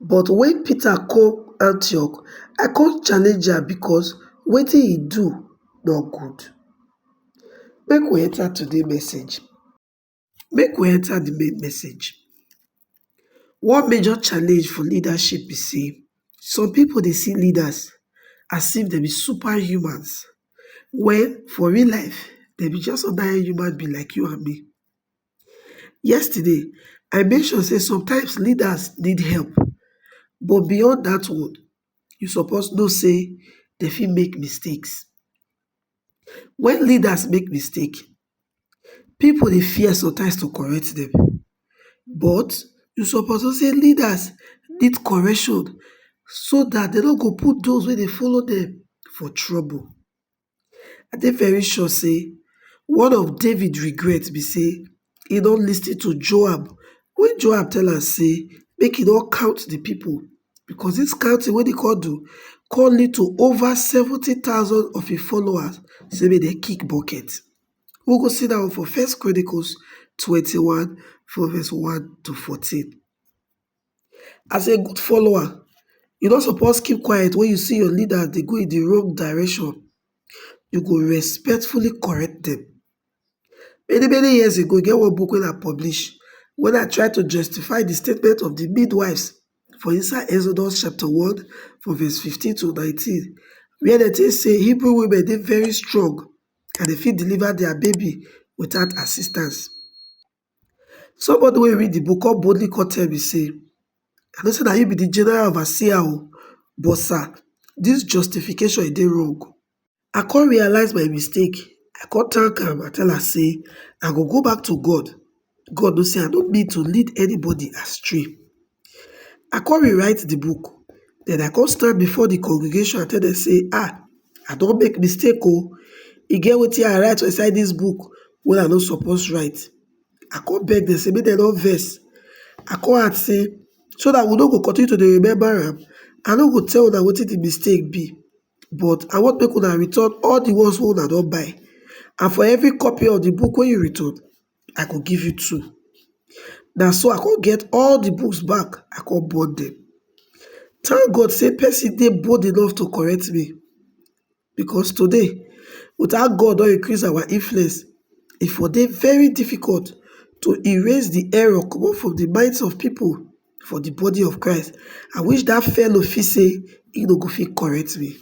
but wen peter come antioch i kon challenge am bikos wetin he do nor good make we enta today message make we enta di main message one major challenge for leadership be sey some pipo dey see leaders as if dem be super humans wen for real life dem be just ordinary human being like you and me yesterday i mention say sometimes leaders need help but beyond dat one you suppose know say dem fit make mistakes wen leaders make mistake pipo dey fear sometimes to correct dem but you suppose know say leaders need correction so dat dem no go put those wey dey follow dem for trouble I dey very sure say one of David regret be say he no lis ten to Joab when Joab tell am say make he no count the people because this counting wey he come do come lead to over 70,000 of his followers say make dem kick bucket. We go see that one for First Chronicles 21 from verse 1 to 14. As a good follower, you no suppose keep quiet when you see your leader dey go in the wrong direction. You go respectfully correct them. Many many years ago, e get one book wey I publish when I try to justify the statement of the midwives for inside Exodus chapter 1 from verse 15 to 19 where dem take say Hebrew women dey very strong and they fit deliver their baby without assistance. Somebody wey read di book come boldly come tell me say, I no say na you be di general overseer o, but sir, dis justification e dey wrong. I come realize my mistake, I come thank am, I tell am say I go go back to God, God know say I no mean to lead anybody astray. I come rewrite the book. Then I come stand before the congregation and tell them say, ah, I don't make mistake oh. E get what I write for inside this book What I no suppose write. I come beg them say make dem no vex. I come add say so that we no go continue to remember am, I no go tell una wetin the mistake be but I want make una return all the ones wey una don buy and for every copy of the book wey you return, I go give you two. Na so I come get all the books back, I come burn them. Thank God say person dey bold enough to correct me because today, without God don increase our influence, e for dey very difficult to erase the error comot from the minds of people. for the body of Christ, I wish that fellow fit say he no go fit correct me.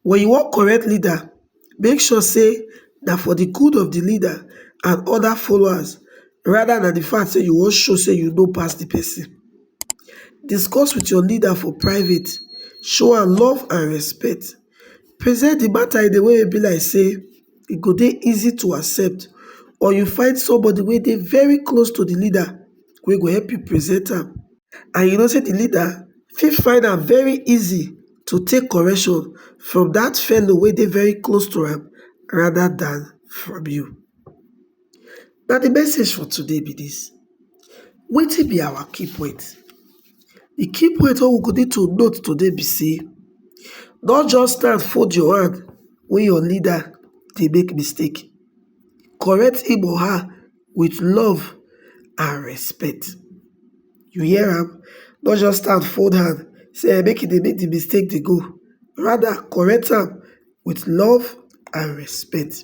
When you wan correct leader, make sure say na for the good of the leader and other followers rather than the fact say you wan show say you know pass the person. Discuss with your leader for private, show am love and respect. present di matter in a way wey be like sey e go dey easy to accept or you find somebody wey dey very close to di leader wey go help you present am and you know sey di leader fit find am very easy to take correction from dat fellow wey dey very close to am rather than from you. Na di message for today be dis, wetin be our key point? Di key point wey we go need to note today be sey, nor just stand fold your hand wen your leader dey make mistake, correct him or her with love and respect, you hear am, nor just stand fold hand sey make e dey make di mistake dey go, rather correct am with love and respect.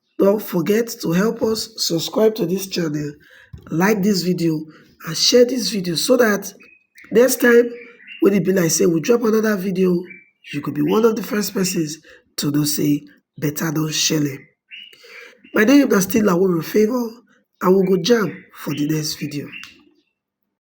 Don't forget to help us subscribe to this channel, like this video and share this video so that next time when it be like say we drop another video, you could be one of the first persons to know say better don shele. My name is still Laworo Favour and we go jam for the next video.